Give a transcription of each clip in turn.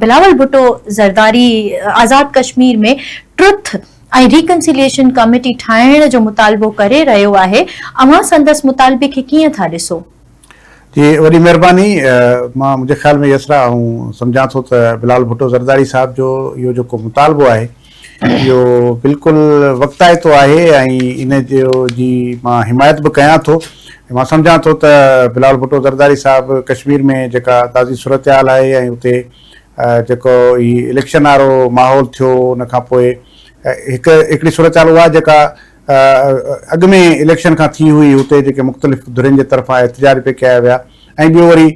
Bilawal Bhutto Zardari Azad Kashmir ۾ truth ۽ reconciliation committee ٺاهڻ جو مطالبو ڪري رهيو آهي، اوهان سندس مطالبي کي ڪيئن ٿا ڏسو؟ جي وڏي مهرباني، مان منهنجي خيال ۾ يسرا آئون سمجهان ٿو ته بلاول ڀٽو زرداري صاحب جو اهو جيڪو مطالبو آهي، اهو بلڪل وقتائتو آهي ۽ ان جو جي مان حمايت به ڪيان ٿو ۽ مان سمجهان ٿو ته بلاول ڀٽو زرداري صاحب ڪشمير ۾ جيڪا تازي صورتحال آهي ۽ اتي جيڪو هي اليڪشن وارو ماحول ٿيو ان کان پوء هڪ هڪڙي صورتحال اها جيڪا اڳ ۾ اليڪشن کان ٿي هئي اتي جيڪي مختلف ڌرين جي طرفان احتجاج پي ڪيا ويا ۽ ٻيو وري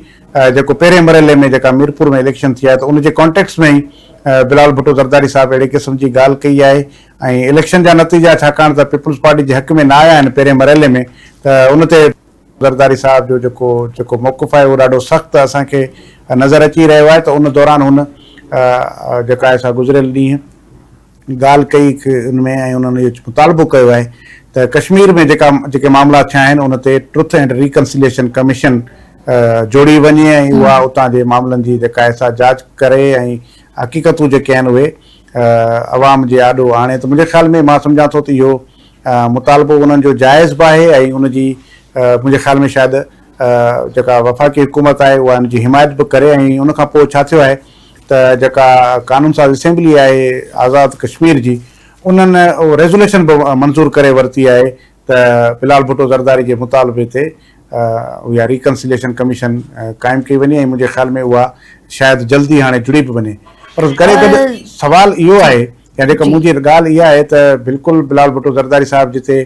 جيڪو پهرين مرحلي ۾ جيڪا ميرپور ۾ اليڪشن ٿي آهي ته ان جي ڪانٽيڪس ۾ ئي بلال ڀٽو زرداري صاحب اهڙي قسم جي ڳالهه ڪئي آهي ۽ اليڪشن جا نتيجا ڇاڪاڻ ته پيپلز پارٽي جي حق ۾ نه آيا آهن پهرين مرحلي ۾ ته ان تي زرداري صاحب جو جيڪو جيڪو موقف آهي اهو ڏاڍو سخت اسان کي نظر اچي رهيو آهي ته ان دوران هن جيڪا آهي سا گذريل ڏينهن ڳالهه ڪئي ان ۾ ۽ انهن اهو مطالبو ڪيو آهي ته ڪشمير ۾ جيڪا جيڪي معاملا ٿيا آهن ان تي ٽروٿ اينڊ ريڪنسليشن ڪميشن جوڙي وڃي ۽ اها اتان جي معاملن جي جيڪا آهي سا جاچ ڪري ۽ حقيقتون جيڪي آهن اهي عوام جي آڏو آڻي ته منهنجي خيال ۾ مان سمجهان ٿو ته اهو مطالبو انهن جو جائز به آهي ۽ ان جي منهنجي خيال ۾ شايد جيڪا وفاقي حڪومت آهي اها ان جي حمايت به ڪري ۽ ان کان پوء ڇا ٿيو آهي ته جيڪا قانون ساز اسيمبلي آهي آزاد ڪشمير جي انهن اهو ريزوليشن به منظور ڪري ورتي آهي ته بلال ڀٽو زرداري جي مطالبي تي اها ريڪنسليشن ڪميشن قائم ڪئي وڃي ۽ منهنجي خيال ۾ اها شايد جلدي هاڻي جڙي به وڃي پر اس گڏي گڏ سوال اهو آهي يا جيڪا منهنجي ڳالهه اها آهي ته بلڪل بلال ڀٽو زرداري صاحب جتي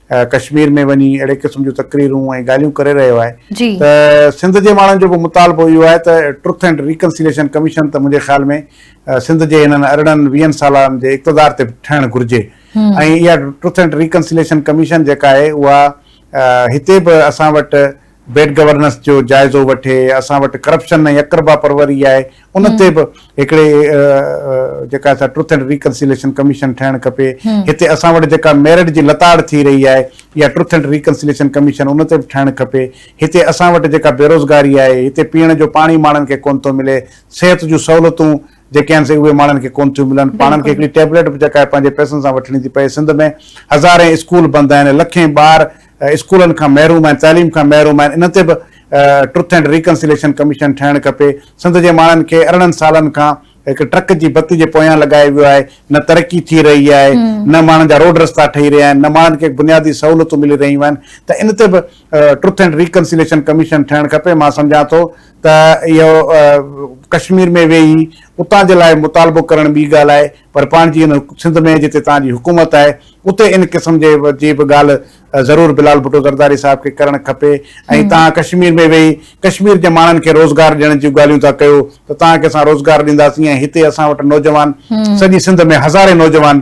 ڪشمير ۾ وڃي اهڙي قسم جون تقريرون ۽ ڳالهيون ڪري رهيو آهي ته سنڌ جي ماڻهن جو به مطالبو اهو آهي ته ٽروٿ اينڊ ريڪنسيليشن ڪميشن ته منهنجي خيال ۾ سنڌ جي هنن ارڙهن ويهن سالن جي اقتدار تي به ٺهڻ گهرجي ۽ اها ٽروٿ اينڊ ريڪنسيليشن ڪميشن جيڪا آهي اها هتي به اسان وٽ بيڊ گورننس جو جائزو وٺي، اسان وٽ ڪرپشن ۽ اقربا پروري آهي، ان تي به هڪڙي جيڪا سا ٽروٿ اينڊ ريڪنسيليشن ڪميشن ٺهڻ کپي، هتي اسان وٽ جيڪا ميرٽ جي لتاڙ ٿي رهي آهي، اها ٽروٿ اينڊ ريڪنسيليشن ڪميشن ان تي به ٺهڻ کپي، هتي اسان وٽ جيڪا بيروزگاري آهي، هتي پيئڻ جو پاڻي ماڻهن کي ڪونه ٿو ملي، صحت جون سهولتون جيڪي آهن سي اهي ماڻهن کي ڪونه ٿيون ملن، پاڻن کي هڪڙي ٽيبليٽ به جيڪا آهي پنهنجي پئسن سان وٺڻي ٿي پئي، سنڌ ۾ هزارين اسڪول بند آهن، لکين ٻار اسڪولن کان محروم آهن، تعليم کان محروم آهن، انهن تي به ٽرٿ اينڊ ريڪنسيليشن ڪميشن ٺهڻ کپي، سنڌ جي ماڻهن کي ارڙهن سالن کان هڪ ٽرڪ جي بتي جي پويان لڳايو ويو آهي، نه ترقي ٿي رهي آهي، نه ماڻهن جا روڊ رستا ٺهي رهيا آهن، نه ماڻهن کي بنيادي سهولتون ملي رهيون آهن ته ان تي به ٽرٿ اينڊ ريڪنسيليشن ڪميشن ٺهڻ کپي، مان سمجهان ٿو ته اهو ڪشمير ۾ ويهي اتان جي لاء مطالبو ڪرڻ ٻي ڳالهه آهي پر پاڻ جي ان سنڌ ۾ جتي توهان جي حڪومت آهي اتي ان قسم جي جي به ڳالهه ضرور بلال ڀٽو زرداري صاحب کي ڪرڻ کپي ۽ توهان ڪشمير ۾ ويهي ڪشمير جي ماڻهن کي روزگار ڏيڻ جون ڳالهيون ٿا ڪيو ته توهان کي اسان روزگار ڏينداسين ۽ هتي اسان وٽ نوجوان سڄي سنڌ ۾ هزارين نوجوان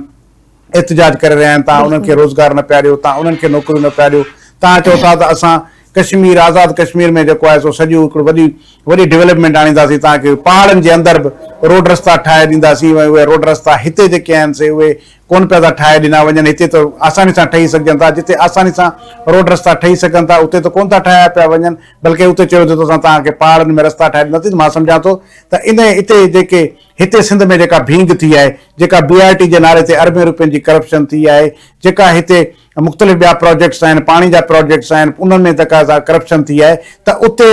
احتجاج ڪري رهيا آهن توهان انهن کي روزگار نه پيا ڏيو توهان انهن کي نوڪريون نه پيا ڏيو توهان چئو ٿا ته اسان ڪشمير آزاد ڪشمير ۾ جيڪو آهي سو سڄو هڪڙو وڏي وڏي ڊولپمينٽ آڻينداسين توهان کي پهاڙن جي اندر به روڊ رستا ٺاهي ڏينداسين ۽ اهي روڊ رستا هتي جيڪي آهن سي اهي ڪونه پيا ٿا ٺاهي ڏنا وڃن، هتي ته آساني سان ٺهي سگهجن ٿا، جتي آساني سان روڊ رستا ٺهي سگهن ٿا، اتي ته ڪونه ٿا ٺاهيا پيا وڃن، بلڪه اتي چيو ويندو ته اسان توهان کي پهاڙن ۾ رستا ٺاهي ڏناسين، مان سمجهان ٿو ته ان اتي جيڪي هتي سنڌ ۾ جيڪا ڀينگ ٿي آهي، جيڪا بي آر ٽي جي نالي تي اربين روپين جي ڪرپشن ٿي آهي، جيڪا هتي. مختلف ٻيا پراجيڪٽس آهن، پاڻي جا پراجيڪٽس آهن، انهن ۾ تقاضا ڪرپشن ٿي آهي ته اتي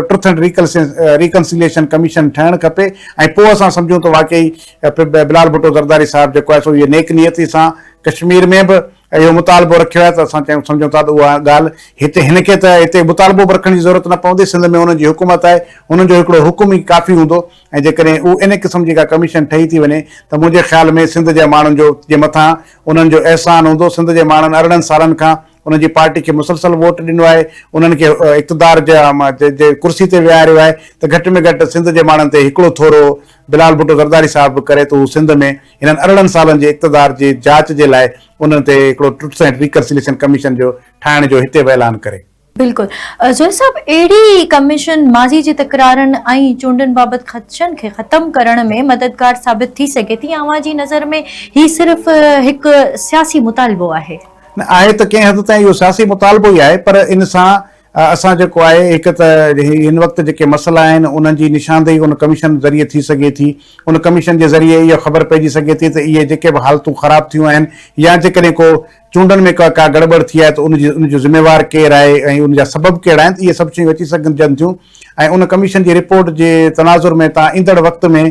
ٽرٿ اينڊ ريڪنسيليشن ڪميشن ٺهڻ کپي ۽ پوء اسان سمجهون ته واقعي بلال ڀٽو زرداري صاحب جيڪو آهي سو اهي نيڪ نيتي سان ڪشمير ۾ به اهو مطالبو رکيو آهي ته اسان چيون سمجهون ٿا ته اها ڳالهه هتي هن کي ته هتي مطالبو به رکڻ جي ضرورت نه پوندي، سنڌ ۾ هنن جي حڪومت آهي، هنن جو هڪڙو حڪم ئي ڪافي هوندو، ۽ جيڪڏهن اهو انهي قسم جي ڪا ڪميشن ٺهي ٿي وڃي ته منهنجي خيال ۾ سنڌ جي ماڻهن جو جي مٿان انهن جو احسان هوندو، سنڌ جي ماڻهن ارڙهن سالن کان انهن جي پارٽي کي مسلسل ووٽ ڏنو آهي، انهن کي اقتدار جي جي ڪرسي تي ويهاريو آهي ته گهٽ ۾ گهٽ سنڌ جي ماڻهن تي هڪڙو ٿورو بلال ڀٽو زرداري صاحب به ڪري ته هو سنڌ ۾ هنن ارڙهن سالن جي اقتدار جي جاچ جي لاء انهن تي هڪڙو ٽرٽس اينڊ ريڪنسليشن ڪميشن جو ٺاهڻ جو هتي به اعلان ڪري. بلڪل زويل صاحب اهڙي ڪميشن ماضي جي تڪرارن ۽ چونڊن بابت خدشن کي ختم ڪرڻ ۾ مددگار ثابت ٿي سگهي ٿي يا اوهان جي نظر ۾ هي صرف هڪ سياسي مطالبو آهي؟ نه آهي ته ڪنهن حد تائين اهو سياسي مطالبو ئي آهي پر ان سان اسان جيڪو آهي هڪ ته هن وقت جيڪي مسئلا آهن انهن جي نشاندهي ان ڪميشن ذريعي ٿي سگهي ٿي ان ڪميشن جي ذريعي اهو خبر پئجي سگهي ٿي ته اهي جيڪي به حالتون خراب ٿيون آهن يا جيڪڏهن ڪو چونڊن ۾ ڪا گڙٻڙ ٿي آهي ته ان جي ان جو ذميوار ڪير آهي ۽ ان جا سبب ڪهڙا آهن اهي سڀ شيون اچي سگهجن ٿيون ۽ ان ڪميشن جي رپورٽ جي تناظر ۾ توهان ايندڙ وقت ۾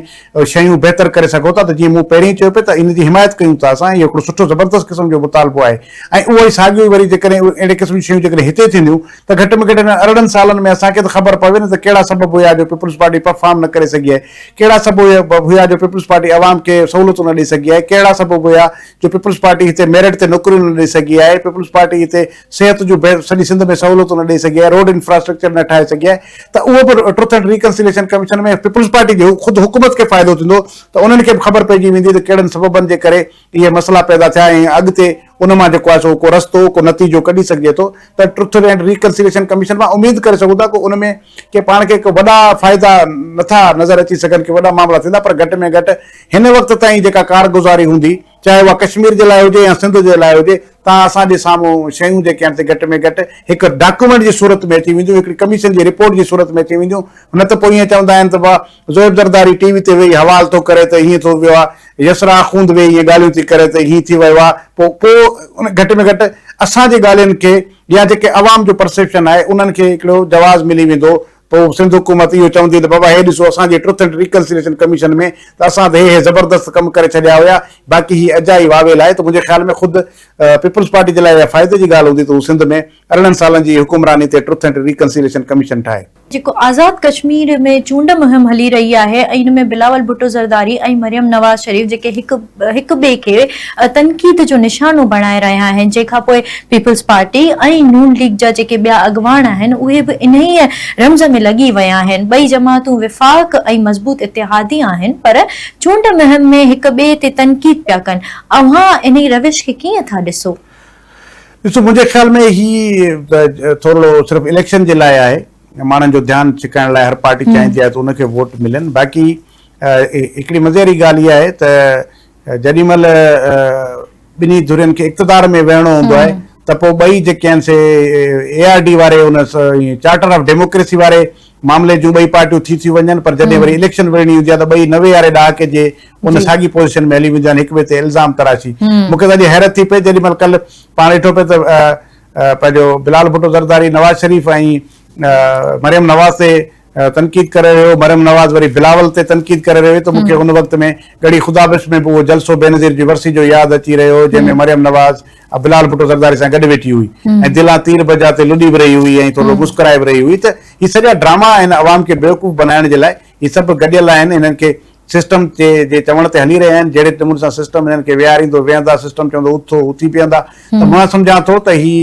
شيون بهتر ڪري سگهو ٿا ته جيئن مون پهرين چيو پئي ته ان جي حمايت ڪيون ٿا اسان اهو هڪڙو سٺو زبردست قسم جو مطالبو آهي ۽ اهو ئي ساڳيو ئي وري جيڪڏهن اهڙي قسم جون شيون جيڪڏهن هتي ٿينديون ته گهٽ ۾ گهٽ انهن ارڙهن سالن ۾ اسان کي ته خبر پوي نه ته ڪهڙا سبب هيا جو پيپلز پارٽي پرفارم نه ڪري سگهي آهي ڪهڙا سبب هيا جو پيپلز پارٽي عوام کي سهولتون نه ڏئي سگهي آهي ڪهڙا سبب هيا جو پيپلز پارٽي هتي ميرٽ تي نوڪريون نه ڏئي سگهي آهي، پيپلز پارٽي هتي صحت جون بهتر سڄي سنڌ ۾ سهولتون نه ڏئي سگهي آهي، روڊ انفراسٽرڪچر نه ٺاهي سگهي آهي ته اهو به truth and reconciliation commission ۾ Peoples Party جي خود حڪومت کي فائدو ٿيندو ته انهن کي به خبر پئجي ويندي ته ڪهڙن سببن جي ڪري اهي مسئلا پيدا ٿيا ۽ اڳتي ان مان جيڪو آهي سو ڪو رستو ڪو نتيجو ڪڍي سگهجي ٿو ته ٽروٿ اينڊ ريڪنسيليشن ڪميشن مان اميد ڪري سگهون ٿا ڪو ان ۾ ڪي پاڻ کي ڪي وڏا فائدا نه ٿا نظر اچي سگهن ڪي وڏا معاملا ٿيندا پر گهٽ ۾ گهٽ هن وقت تائين جيڪا ڪارگذاري هوندي، چاهي اها ڪشمير جي لاء هجي يا سنڌ جي لاء هجي، تان اسان جي سامهون شيون جيڪي آهن سي گهٽ ۾ گهٽ هڪ ڊاڪيومينٽ جي صورت ۾ اچي وينديون، هڪڙي ڪميشن جي رپورٽ جي صورت ۾ اچي وينديون، نه ته پوء ائين چوندا آهن ته واهه زويب زرداري ٽي وي تي ويهي حوال ٿو ڪري ته ائين ٿو ويو آهي، يسرا آخوند ويهي ائين ڳالهيون ٿي ڪري ته ائين ٿي ويو آهي، پوء پوء ان گهٽ ۾ گهٽ اسان جي ڳالهين کي يا جيڪي عوام جو پرسيپشن آهي انهن کي هڪڙو جواز ملي ويندو پوء سنڌ حڪومت اهو چوندي ته بابا هي ڏسو اسان جي ٽروٿ اينڊ ريڪنسليشن ڪميشن ۾ ته اسان ته هي هي زبردست ڪم ڪري ڇڏيا هيا باقي هي اجائي واويل آهي ته منهنجي خيال ۾ خود پيپلز پارٽي جي لاء اها فائدي جي ڳالهه هوندي ته هو سنڌ ۾ ارڙهن سالن جي حڪمراني تي ٽروٿ اينڊ ريڪنسليشن ڪميشن ٺاهي. جيڪو آزاد ڪشمير ۾ چونڊ مهم هلي رهي آهي ۽ ان ۾ بلاول ڀٽو زرداري ۽ مريم نواز شريف جيڪي هڪ هڪ ٻئي کي تنقيد جو نشانو بڻائي رهيا آهن جنهن کانپوء پيپلز پارٽي ۽ نون ليگ جا جيڪي ٻيا اڳواڻ آهن اهي به انهيء رمز ۾ لڳي ويا آهن ٻئي جماعتون وفاق ۽ مضبوط اتحادي آهن پر چونڊ مهم ۾ هڪ ٻئي تي تنقيد پيا ڪن اوهان انهي روش کي ڪيئن ٿا ڏسو؟ ڏسو منهنجي خيال ۾ هي ٿورڙو صرف اليڪشن جي لاء آهي ماڻهن جو ڌيان ڇڪائڻ لاء هر پارٽي چاهيندي آهي ته ان کي ووٽ ملن باقي هڪڙي مزي واري ڳالهه اها آهي ته جيڏي مهل ٻنهي ڌرين کي اقتدار ۾ ويهڻو هوندو آهي ته پوء ٻئي جيڪي آهن سي اي آر ڊي واري ان چارٽر آف ڊيموڪريسي واري معاملي جون ٻئي پارٽيون ٿي ٿيون وڃن پر جڏهن وري اليڪشن وڙهڻي هوندي آهي ته ٻئي نوي واري ڏهاڪي جي ان ساڳي پوزيشن ۾ هلي وينديون آهن هڪ ٻئي تي الزام تراشي مون کي اڄ حيرت ٿي پئي جيڏي مهل ڪلهه پاڻ ڏٺو پئي ته پنهنجو بلال ڀٽو زرداري نواز شريف ۽ مريم نواز تي تنقيد ڪري رهيو هو مريم نواز وري بلاول تي تنقيد ڪري رهي هئي ته مون کي ان وقت ۾ ڳڙهي خدا بخش ۾ به اهو جلسو بينظير جي ورسي جو ياد اچي رهيو هو جنهن ۾ مريم نواز بلال ڀٽو زرداري سان گڏ ويٺي هئي ۽ دلان تير بجا تي لڏي به رهي هئي ۽ ٿورڙو مسڪرائي به رهي هئي ته هي سڄا ڊراما آهن عوام کي بيوقوف بنائڻ جي لاء هي سڀ گڏيل آهن هنن کي سسٽم جي جي چوڻ تي هلي رهيا آهن جهڙي نموني سان سسٽم هنن کي ويهاريندو ويهندا سسٽم چوندو اٿو اٿي بيهندا ته مان سمجهان ٿو ته هي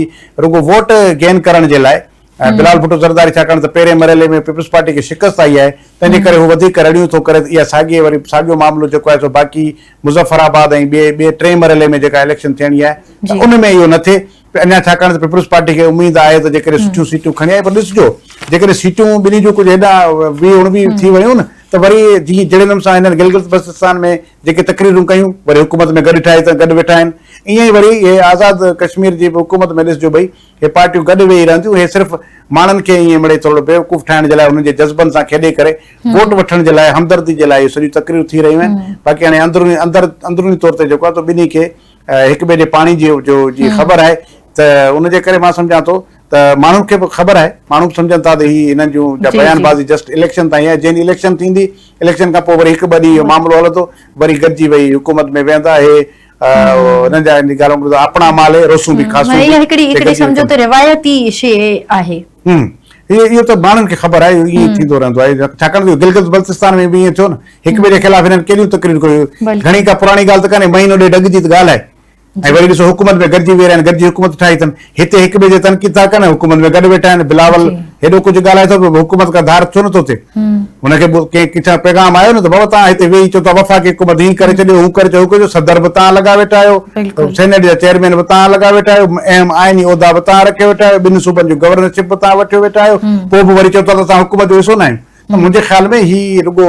رڳو ووٽ گين ڪرڻ جي لاء ۽ بلال ڀٽو زرداري ڇاڪاڻ ته پهرين مرحلي ۾ پيپلز پارٽي کي شڪست آئي آهي تنهنجي ڪري هو وڌيڪ رڙيون ٿو ڪري ته اها ساڳي وري ساڳيو معاملو جيڪو آهي سو باقي مظفر آباد ۽ ٻئي ٻئي ٽئين مرحلي ۾ جيڪا اليڪشن ٿيڻي آهي ته ان ۾ اهو نه ٿئي اڃا ڇاڪاڻ ته پيپلز پارٽي کي اميد آهي ته جيڪڏهن سٺيون سيٽون کڻي آئي پر ڏسجو جيڪڏهن سيٽون ٻنهي جون ڪجهه هيڏانهن ويهه اڻويهه ٿي ويون ته وري جيئن جهڙي نمونے سان هنن گلگت بلتستان ۾ جيڪي تقريرون ڪيون وري حڪومت ۾ گڏ ٺاهي ته گڏ ويٺا آهن ائين ئي وري اهي آزاد ڪشمير جي به حڪومت ۾ ڏسجو ڀئي هي پارٽيون گڏ ويهي رهنديون، هي صرف ماڻهن کي ائين مڙئي ٿورڙو بيوقوف ٺاهڻ جي لاء انهن جي جذبن سان کيڏي ڪري ووٽ وٺڻ جي لاء همدردي جي لاء اهي سڄيون تقريرون ٿي رهيون آهن باقي هاڻي اندروني اندر اندروني طور تي جيڪو آهي تو ٻنهي کي هڪ ٻئي جي پاڻي جي جو جي خبر آهي ته ان جي ڪري مان سمجهان ٿو ته ماڻهن کي به خبر آهي ماڻهو به سمجهن ٿا ته هي هنن جون جا بيان بازي جسٽ اليڪشن تائين آهي جنهن ڏينهن اليڪشن ٿيندي اليڪشن کان پوء وري هڪ ٻه ڏينهن اهو معاملو هلندو وري گڏجي ويهي حڪومت ۾ ويهندا اهي انهن جا هن ڳالهه ٻڌو آپڻا مال هي روسون به کاسون به. هيء هڪڙي هڪڙي سمجهو ته روايتي شيء آهي. هون. اهو ته ماڻهن کي خبر آهي اهو ائين ٿيندو رهندو آهي ڇاڪاڻ ته گلگت بلتستان ۾ به ائين ٿيو نه هڪ ٻئي جي خلاف هنن ڪيڏيون تقريرون ڪيون گهڻي ڪا پراڻي ڳالهه ته ڪانهي مهينو ڏيڍ اڳ جي ته ڳالهه آهي ۽ وري ڏسو حڪومت ۾ گڏجي ويهي رهيا آهن گڏجي حڪومت ٺاهي اٿن. هتي هڪ ٻئي جي تنقيد ٿا ڪن ۽ حڪومت ۾ گڏ ويٺا آهن بلاول هيڏو ڪجهه ڳالهائي ٿو به حڪومت کان ڌار ڇو نٿو ٿئي هن کي ڪنهن ڪٿان پيغام آيو نه ته بابا توهان هتي ويهي چئو ٿا وفاقي حڪومت هي ڪري ڇڏيو هو ڪري ڇڏيو جو صدر به توهان لڳا ويٺا آهيو سينيٽ جا چيئرمين به توهان لڳا ويٺا آهيو اهم آئيني عهدا به توهان رکي ويٺا آهيو ٻن صوبن جون گورنرشپ به توهان وٺيو ويٺا آهيو پوء به وري چئو ٿا ته اسان حڪومت جو حصو نه آهيون منهنجي خيال ۾ هي رڳو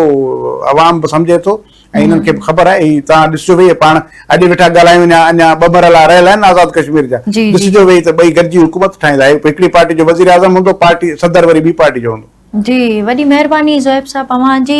عوام به سمجهي ٿو ۽ انهن کي به خبر آهي ۽ توهان ڏسجو ويهي پاڻ اڄ ويٺا ڳالهايون يا اڃا ٻه مرحلا رهيل آهن آزاد ڪشمير جا ڏسجو ويهي ته ٻئي گڏجي حڪومت ٺاهيندا هڪ هڪڙي پارٽي جو وزيراعظم هوندو پارٽي صدر وري ٻي پارٽي جو هوندو. جي وڏي مهرباني زوئيب صاحب اوهان جي.